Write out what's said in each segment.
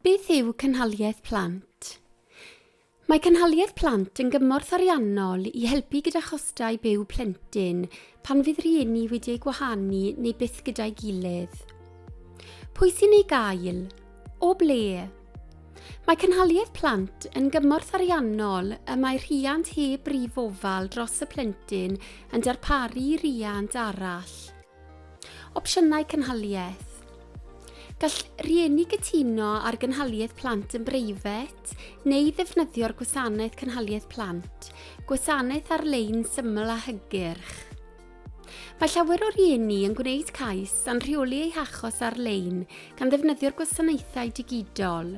Beth yw Cynhaliaeth Plant? Mae Cynhaliaeth Plant yn gymorth ariannol i helpu gyda chostau byw plentyn pan fydd rhieni wedi eu gwahanu neu byth gyda'i gilydd. Pwy sy'n ei gael? O ble? Mae Cynhaliaeth Plant yn gymorth ariannol y mae rhiant heb brif ofal dros y plentyn yn darparu i riant arall. Opsiynau cynhaliaeth. Gall rieni gytuno ar gynhaliaeth plant yn breifat neu ddefnyddio'r gwasanaeth cynhaliaeth plant, gwasanaeth ar-lein syml a hygyrch. Mae llawer o rieni yn gwneud cais a'n rheoli eu hachos ar-lein gan ddefnyddio'r gwasanaethau digidol.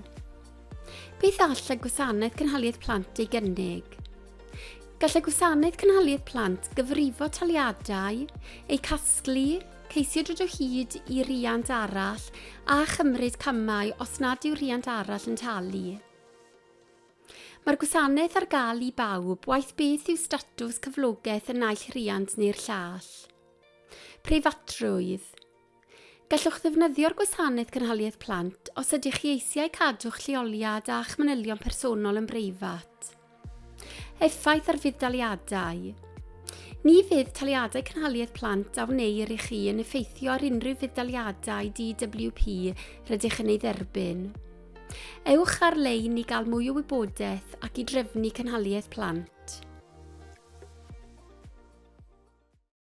Beth all y gwasanaeth cynhaliaeth plant ei gynnig? Gall y Gwasanaeth Cynhaliaeth Plant gyfrifo taliadau, eu casglu, ceisio dod o hyd i riant arall a chymryd camau os nad yw rhiant arall yn talu. Mae'r gwasanaeth ar gael i bawb, waeth beth yw statws cyflogaeth y naill rhiant neu'r llall. Preifatrwydd. Gallwch ddefnyddio'r Gwasanaeth Cynhaliaeth Plant os ydych chi eisiau cadw'ch lleoliad a'ch manylion personol yn breifat. Effaith ar fudd-daliadau Ni fydd taliadau cynhaliaeth plant a wneir i chi yn effeithio ar unrhyw fudd-daliadau DWP rydych yn ei dderbyn. Ewch ar-lein i gael mwy o wybodaeth ac i drefnu cynhaliaeth plant.